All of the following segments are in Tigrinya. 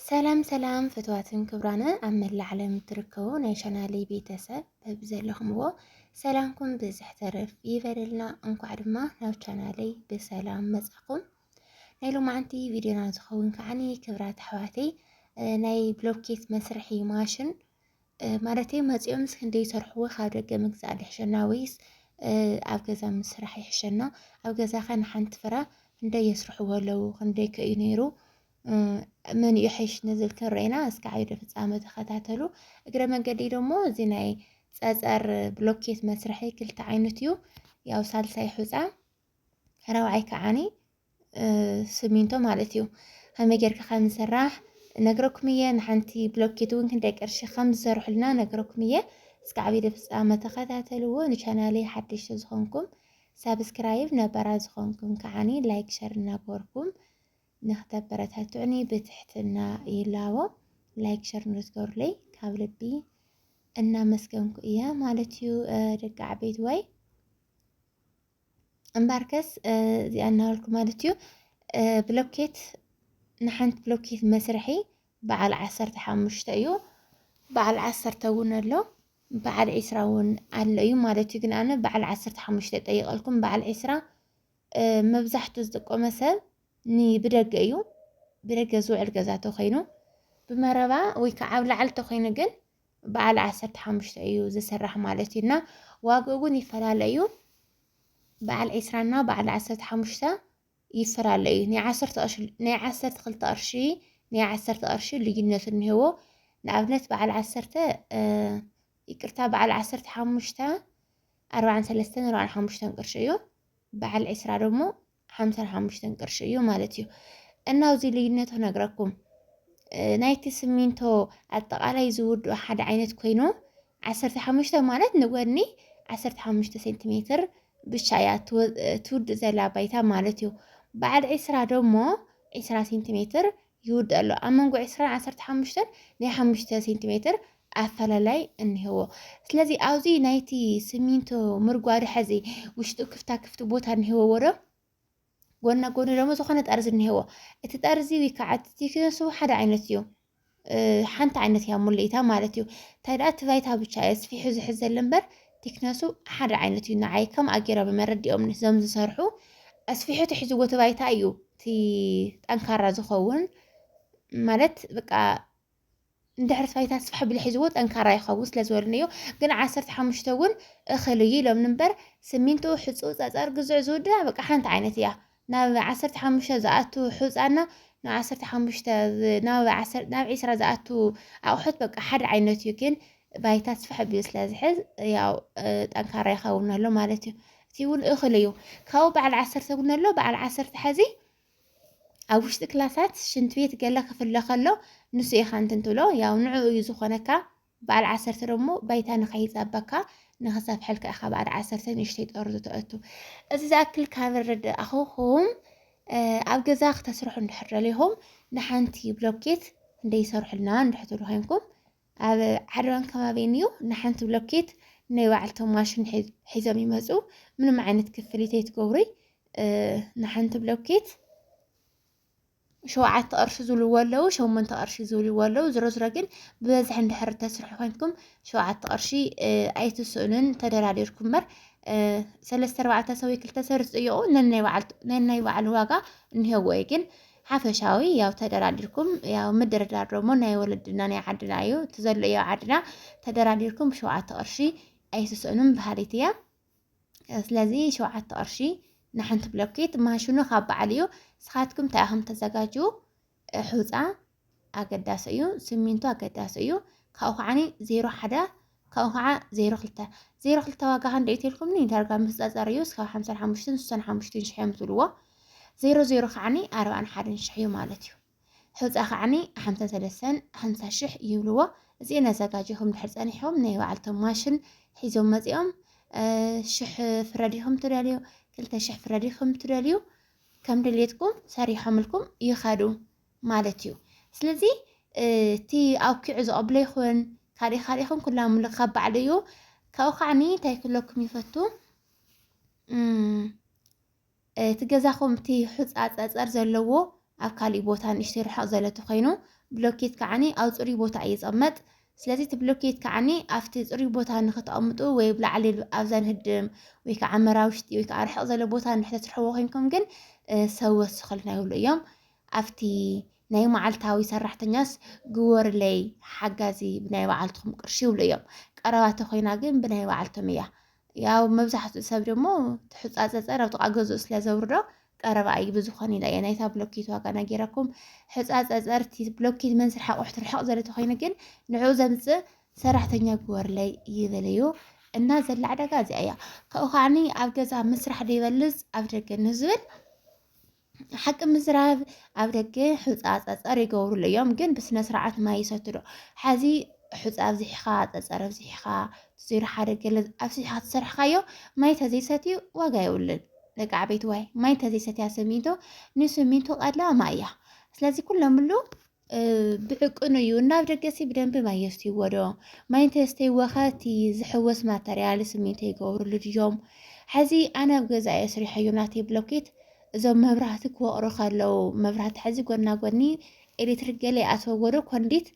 ሰላም ሰላም ፍትዋትን ክብራነ ኣብ መላእ ዓለም እትርከቡ ናይ ቻናለይ ቤተሰብ በብዘለኹምዎ ሰላምኩም ብዝሕ ተረፍ ይበለልና። እንኳዕ ድማ ናብ ቻናለይ ብሰላም መጻኹም። ናይ ሎማዓንቲ ቪድዮና ዝኸውን ከዓኒ ክብራት ኣሕዋተይ ናይ ብሎኬት መስርሒ ማሽን ማለተይ መፂኦምስ ክንደይ ይሰርሕዎ ካብ ደገ ምግዛእ ድሕሸና ወይስ ኣብ ገዛ ምስራሕ ይሕሸና? ኣብ ገዛኸ ንሓንቲ ፍረ ክንደይ የስርሕዎ ኣለዉ? ክንደይ ከ እዩ ነይሩ? መን እዩ ሕሽ ንዝብል ክንርኤና እስከ ዓይዶ ፍፃመ ተኸታተሉ። እግረ መንገዲ ደሞ እዚ ናይ ፀፀር ብሎኬት መስርሒ ክልተ ዓይነት እዩ። ያው ሳልሳይ ሑፃ ራብዓይ ከዓኒ ስሚንቶ ማለት እዩ ከመይ ጌርካ ከም ዝስራሕ ነግረኩም እየ ንሓንቲ ብሎኬት እውን ክንደይ ቅርሺ ከም ዝሰርሑልና ነግረኩም እየ እስከ ዓብዪ ፍፃመ ተኸታተልዎ ንቻናለይ ሓደሽቲ ዝኾንኩም ሳብስክራይብ ነበራ ዝኾንኩም ከዓኒ ላይክ ሸር እናገበርኩም ንክተበረታትዑኒ ብትሕትና ይላቦ ላይክ ሸር ንዝገሩለይ ካብ ልቢ እናመስገንኩ እያ ማለት እዩ ደቂ ዓበይት ወይ እምበኣርከስ እዚኣ እናበልኩ ማለት እዩ ብሎኬት ንሓንቲ ብሎኬት መስርሒ በዓል ዓሰርተ ሓሙሽተ እዩ በዓል ዓሰርተ እውን ኣሎ በዓል ዒስራ እውን ኣሎ እዩ ማለት እዩ ግን ኣነ በዓል ዓሰርተ ሓሙሽተ ጠይቀልኩም በዓል ዒስራ መብዛሕቱ ዝጥቀመ ሰብ ንብደገ እዩ ብደገ ዝውዕል ገዛ ተኮይኑ ብመረባ ወይ ከዓ ኣብ ላዕሊ ተኮይኑ ግን በዓል ዓሰርተ ሓሙሽተ እዩ ዝስራሕ ማለት እዩ እና ዋግኡ እውን ይፈላለ እዩ በዓል ዒስራና በዓል ዓሰርተ ሓሙሽተ ይፈላለ እዩ ናይ ዓሰርተ ክልተ ቅርሺ ናይ ዓሰርተ ቅርሺ ልዩነት እኒሄዎ ንኣብነት በዓል ዓሰርተ ይቅርታ በዓል ዓሰርተ ሓሙሽተ ኣርባዕን ሰለስተን ኣርባዕን ሓሙሽተን ቅርሺ እዩ በዓል ዒስራ ደግሞ ሓምሳን ሓሙሽተን ቅርሺ እዩ ማለት እዩ። እና ኣብዚ ልዩነቱ ነግረኩም ናይቲ ስሚንቶ ኣጠቃላይ ዝውድኡ ሓደ ዓይነት ኮይኑ ዓሰርተ ሓሙሽተ ማለት ንጎኒ ዓሰርተ ሓሙሽተ ሴንቲሜትር ብቻ እያ ትውድእ ዘላ ባይታ ማለት እዩ። በዓል ዒስራ ደሞ ዒስራ ሴንቲሜትር ይውዳእ ኣሎ። ኣብ መንጎ ዕስራን ዓሰርተ ሓሙሽተን ናይ ሓሙሽተ ሴንቲ ሜትር ኣፈላላይ እኒሀዎ። ስለዚ ኣብዚ ናይቲ ስሚንቶ ምርጓድ ሐዚ ውሽጡ ክፍታ ክፍቲ ቦታ እኒሀዎ ዶ ጎና ጎኒ ደግሞ ዝኾነ ጠርዚ እኒሄዎ እቲ ጠርዚ ወይ ከዓ እቲ ቴክነሱ ሓደ ዓይነት እዩ ሓንቲ ዓይነት እያ ሙልኢታ ማለት እዩ እንታይ ደኣ እቲ ባይታ ብቻ እየ ስፊሑ ዝሕዘለ እምበር ቲክነሱ ሓደ ዓይነት እዩ ንዓይ ከምኣ ገይሮም እዮም ኣረዲኦም ነዞም ዝሰርሑ ኣስፊሑ ትሕዝዎ እቲ ባይታ እዩ እቲ ጠንካራ ዝኸውን ማለት በቃ እንድሕር እቲ ባይታ ስፋሕ ቢሉ ሒዝዎ ጠንካራ ይኸውን ስለ ዝበሉኒ እዩ ግን ዓሰርተ ሓሙሽተ እውን እኽል እዩ ኢሎምኒ እምበር ስሚንቶ ሕፁ ፀፀር ግዙዕ ዝውድና በቃ ሓንቲ ዓይነት እያ ናብ ዓሰርተ ሓሙሽተ ዝኣቱ ሕጻና ናብ ዓሰርተ ሓሙሽተ ናብ ዓሰርተ ናብ ዒስራ ዝኣቱ ኣቑሑት በቃ ሓደ ዓይነት እዩ ግን ባይታ ስፍሕ ኣቢሉ ስለ ዝሕዝ ያው ጠንካራ ይኸውን ኣሎ ማለት እዩ እቲ እውን እኽል እዩ ካብኡ በዓል ዓሰርተ እውን ኣሎ በዓል ዓሰርተ ሕዚ ኣብ ውሽጢ ክላሳት ሽንት ቤት ገለ ክፍለ ከሎ ንሱ ኢኻ እንትን ትብሎ ያው ንዕኡ እዩ ዝኾነካ በዓል ዓሰርተ ደሞ ባይታ ንኸይጸበካ ንኽሰፍሐልካ ኢኻ በዓል ዓሰርተ ንእሽተይ ጠርዙ ተእቱ። እዚ ዝኣክል ካብ ረዳእኹኹም ኣብ ገዛ ክተስርሑ እንድሕር ደሊኹም ንሓንቲ ብሎኬት ክንደይ ይሰርሑልና እንድሕር ትብሉ ኮይንኩም ኣብ ዓድዋን ከባቢን እዩ ንሓንቲ ብሎኬት ናይ ባዕልቶም ማሽን ሒዞም ይመፁ ምንም ዓይነት ክፍሊት ኣይትገብሩይ ንሓንቲ ብሎኬት ሸውዓተ ቅርሺ ዝብልዎ ኣለዉ ሸሞንተ ቅርሺ ዝብልዎ ኣለዉ ዝሮዝሮ ግን ብበዝሒ እንድሕር ተስርሑ ኮይንኩም ሸውዓተ ቅርሺ ኣይትስእኑን ተደራዲርኩም እምበር ሰለስተ ኣርባዕተ ሰው ክልተ ሰብ ዝጥይቁ ነናይ በዓሉ ዋጋ እኒሄዎ እዩ ግን ሓፈሻዊ ያው ተደራዲርኩም ያው ምድርዳር ደግሞ ናይ ወለድና ናይ ዓድና እዩ እቲ ዘሎ እዩ ዓድና ተደራዲርኩም ብሸውዓተ ቅርሺ ኣይትስእኑን በሃሊት እያ ስለዚ ሸውዓተ ቅርሺ ንሓንቲ ብሎኬት ማሽኑ ካብ በዓል እዩ ንስኻትኩም እንታይ ኢኹም ተዘጋጅው ሑፃ ኣገዳሲ እዩ ስሚንቶ ኣገዳሲ እዩ ካብኡ ከዓ ዜሮ ሓደ ካብኡ ከዓ ዜሮ ክልተ ዜሮ ክልተ ዋጋ ክንደ እዩ ተልኩምኒ ዳርጋ ምስፀፀር እዩ እስካብ ሓምሳን ሓሙሽተን ስሳን ሓሙሽተን ሽሕ እዮም ዝብልዎ ዜሮ ዜሮ ከዓኒ ኣርባን ሓደን ሽሕ እዩ ማለት እዩ ሑጻ ከዓኒ ሓምሳ ሰለሰን ሓምሳ ሽሕ ይብልዎ እዚኤን ኣዛጋጂኹም ድሕር ጸኒሖም ናይ በዓልቶም ማሽን ሒዞም መጺኦም ሽሕ ፍረ ዲኹም ትደልዩ ክልተ ሽሕ ፍረ ዲኹም ትደልዩ ከም ድሌትኩም ሰሪሖምልኩም ይኸዱ ማለት እዩ ስለዚ እቲ ኣውኪዑ ዝቐብሎ ይኹን ካልእ ካልእ ይኹን ኩላ ምልክ ካብ ባዕሉ እዩ ካብኡ ከዓኒ እንታይ ክለኩም ይፈቱ እቲ ገዛኹም እቲ ሑጻ ጸጸር ዘለዎ ኣብ ካሊእ ቦታ ንእሽተይ ርሕቕ ዘለ ተኾይኑ ብሎኬት ከዓኒ ኣብ ጽሩይ ቦታ እዩ ዝቕመጥ ስለዚ እቲ ብሎኬት ከዓኒ ኣብቲ ጽሩይ ቦታ ንኽተቐምጡ ወይ ኣብ ላዕሊ ኣብ ዘንህድም ወይ ከዓ መራ ውሽጢ ወይ ከዓ ርሕቕ ዘለ ቦታ እንድሕር ተስርሕዎ ኮይንኩም ግን ሰብ ወስኸልና ይብሉ እዮም ኣብቲ ናይ መዓልታዊ ሰራሕተኛስ ግወርለይ ሓጋዚ ብናይ በዓልትኹም ቅርሺ ይብሉ እዮም። ቀረባ ተኾይና ግን ብናይ በዓልቶም እያ። ያው መብዛሕትኡ ሰብ ደሞ ትሕፃፀፀር ኣብ ጥቓ ገዝኡ ስለ ዘውርዶ ቀረባ እዩ ብዝኾነ ኢላ እየ ናይታ ብሎኬት ዋጋ ናጌረኩም ሕፃፀፀርቲ ብሎኬት መንስር ሓቑሕት ርሕቕ ዘለ ተኮይኑ ግን ንዕኡ ዘምፅእ ሰራሕተኛ ግበርለይ ይብል እዩ እና ዘላ ዕዳጋ እዚኣ እያ ካብኡ ከዓኒ ኣብ ገዛ ምስራሕ ደይበልፅ ኣብ ደገ ንዝብል ሓቂ ምዝራብ ኣብ ደገ ሑፃ ፀፀር ይገብሩሉ እዮም፣ ግን ብስነ ስርዓት ማይ ይሰቱ ዶ ሓዚ ሑፃ ኣብዚሕኻ ፀፀር ኣብዚሕኻ ዜሮ ሓደ ገለ ኣብዚሕኻ ተሰርሕካዮ ማይ ተዘይሰትዩ ዋጋ የብሉን። ደቂ ዓበይቲ ዋይ ማይ ተዘይሰትያ ስሚንቶ ንስሚንቶ ቀድላ ማይ እያ። ስለዚ ኩሎምሉ ብዕቅኑ እዩ እናብ ደገሲ ብደንቢ ማይ የስትይዎ ዶ ማይ እንተየስተይዎ ኸ እቲ ዝሕወስ ማተርያል ስሚንቶ ይገብርሉ ድዮም ሕዚ ኣነ ኣብ ገዛ እየ ስሪሐዮ ናተይ ብሎኬት እዞም መብራህቲ ክወቕሩ ከለዉ መብራህቲ ሕዚ ጎና ጎኒ ኤሌክትሪክ ገለ ይኣትወዎ ዶ ኮንዲት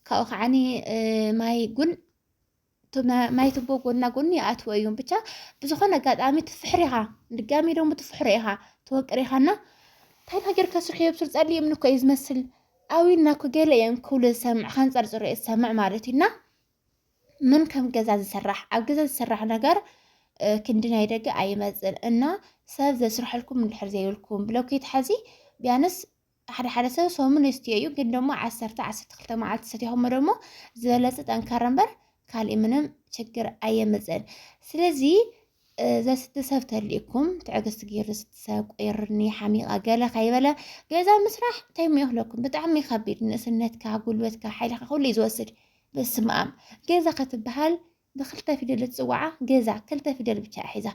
ካብኡ ከዓኒ ማይ ጉን ማይ ቱቦ ጎና ጎኒ ይኣትዎ እዩም ብቻ ብዝኾነ ኣጋጣሚ ትፍሕር ኢኻ ድጋሚ ደሞ ትፍሕሮ ኢኻ ትወቅር ኢኻና እንታይ ነገር ከስርሑ የብስር ጸልዩ እምኒ እኮ እዩ ዝመስል ኣዊና እኮ ገለ እዮም ክብሉ ዝሰምዕ ከንጸርጽሩ እየ ዝሰምዕ ማለት እዩና ምን ከም ገዛ ዝስራሕ ኣብ ገዛ ዝስራሕ ነገር ክንዲ ናይ ደገ ኣይመፅን እና ሰብ ዘስርሐልኩም እንድሕር ዘይብልኩም ብሎኬት ሓዚ ቢያንስ ሓደ ሓደ ሰብ ሰሙን የስትዮ እዩ፣ ግን ደግሞ ዓሰርተ ዓሰርተ ክልተ መዓልቲ ሰቲኹሞ ደግሞ ዝበለፀ ጠንካራ እምበር ካልእ ምንም ችግር ኣየምፅእን። ስለዚ ዘስቲ ሰብ ተልእኩም ትዕግስቲ ገይሩ ዘስቲ ሰብ ቆይርኒ ሓሚቓ ገለ ከይበለ ገዛ ምስራሕ እንታይ ሞ ይኽለኩም ብጣዕሚ ከቢድ ንእስነትካ፣ ጉልበትካ፣ ሓይልካ ኩሉ እዩ ዝወስድ። በስመ ኣብ ገዛ ከትበሃል ብክልተ ፊደል ዝፅዋዓ ገዛ ክልተ ፊደል ብቻ እያ ሒዛ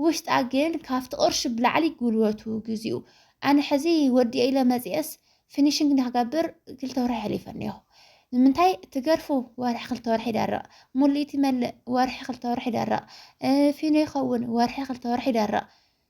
ውሽጣ ግን ካብቲ ቅርሺ ብላዕሊ ጉልበቱ ግዚኡ ኣነ ሕዚ ወዲኤ ኢለ መፅኤስ ፊኒሽንግ ንክገብር ክልተ ወርሒ ሕሊፈ እኒሆ ንምንታይ ትገርፉ ወርሒ ክልተ ወርሒ ይደርቕ ሙሊት ይመልእ ወርሒ ክልተ ወርሒ ይደርቕ ፊኖ ይኸውን ወርሒ ክልተ ወርሒ ይደርቕ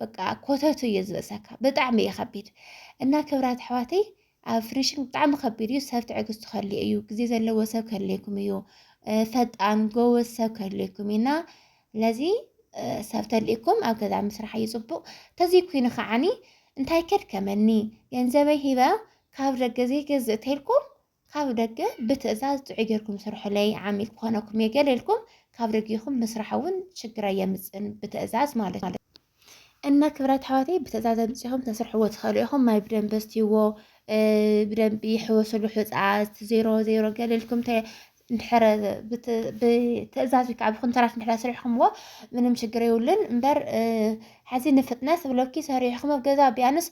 በቃ ኮተቱ እዩ ዝበሰካ ብጣዕሚ እዩ ከቢድ እና ክብራት ኣሕዋተይ ኣብ ፍኒሽንግ ብጣዕሚ ከቢድ እዩ ሰብ ትዕግስቱ ከድልዮ እዩ ግዜ ዘለዎ ሰብ ከድልየኩም እዩ ፈጣን ጎበዝ ሰብ ከድልየኩም እዩ እና ለዚ ሰብ ተድልየኩም ኣብ ገዛ ምስራሕ እዩ ፅቡቅ ተዘይ ኮይኑ ከዓኒ እንታይ ከድከመኒ ገንዘበይ ሂበ ካብ ደገ ዘይገዝእ ተልኩም ካብ ደገ ብትእዛዝ ጥዑይ ጌርኩም ስርሑለይ ዓሚል ክኾነኩም እየ ገለ ኢልኩም ካብ ደጊኹም ምስራሕ እውን ሽግር ኣየምፅእን ብትእዛዝ ማለት እዩ። እና ክብራት ኣሕዋተይ ብትእዛዝ ኣምፂኹም ተስርሕዎ ትኽእሉ ኢኹም ማይ ብደንቢ ስትይዎ ብደንቢ ሕወስሉ ሕፃ ዜሮ ዜሮ ገለ ኢልኩም እንድሕር ብትእዛዝ ወይ ከዓ ብኩንትራት እንድሕር ስሪሕኩምዎ ምንም ችግር የብሉን እምበር ሓዚ ንፍጥነት ብሎኪ ሰሪሕኩም ኣብ ገዛ ቢያንስ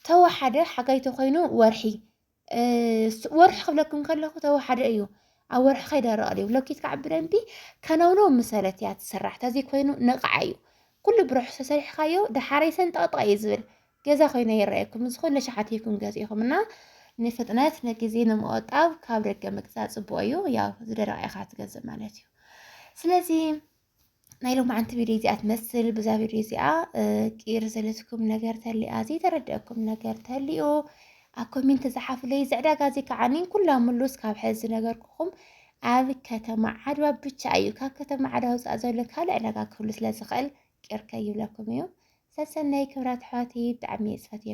ተወሓደ ሓጋይ ተኮይኑ ወርሒ ወርሒ ክብለኩም ከለኹ ተወሓደ እዩ ኣብ ወርሒ ከይደረቐ ድዩ ብሎኬት ከዓ ብደንቢ ከነውነው ምሰለት እያ ትስራሕ ተዘይ ኮይኑ ነቕዓ እዩ ኩሉ ብርሑስ ተሰሪሕካዮ ደሓረይ ሰንጠቕጠቕ እዩ ዝብል ገዛ ኮይነ ይረኣየኩም እዚ ኩሉ ሸሓት ይኩም ገዚእኹም እና ንፍጥነት ንግዜ ንምቆጣብ ካብ ደገ ምግዛእ ፅቡቅ እዩ ያው ዝደረቀ ኢኻ ትገዝእ ማለት እዩ ስለዚ ናይ ሎማዓንቲ ቪድዮ እዚኣ ትመስል ብዛ ቪድዮ እዚኣ ቅይር ዘለትኩም ነገር ተሊኣ ዘይተረድአኩም ነገር ተሊኡ ኣብ ኮሜንት ዝሓፍለይ ዝዕዳጋ እዚ ከዓኒ ኩላ ምሉስ ካብ ሕዚ ነገርኩኹም ኣብ ከተማ ዓድዋ ብቻ እዩ ካብ ከተማ ዓድዋ ውፃእ ዘሎ ካልእ ዕዳጋ ክህሉ ስለ ዝኽእል ቅይር ከይብለኩም እዩ ሰሰናይ ክብራት ኣሕዋተይ ብጣዕሚ እየ ዝፈትየኩም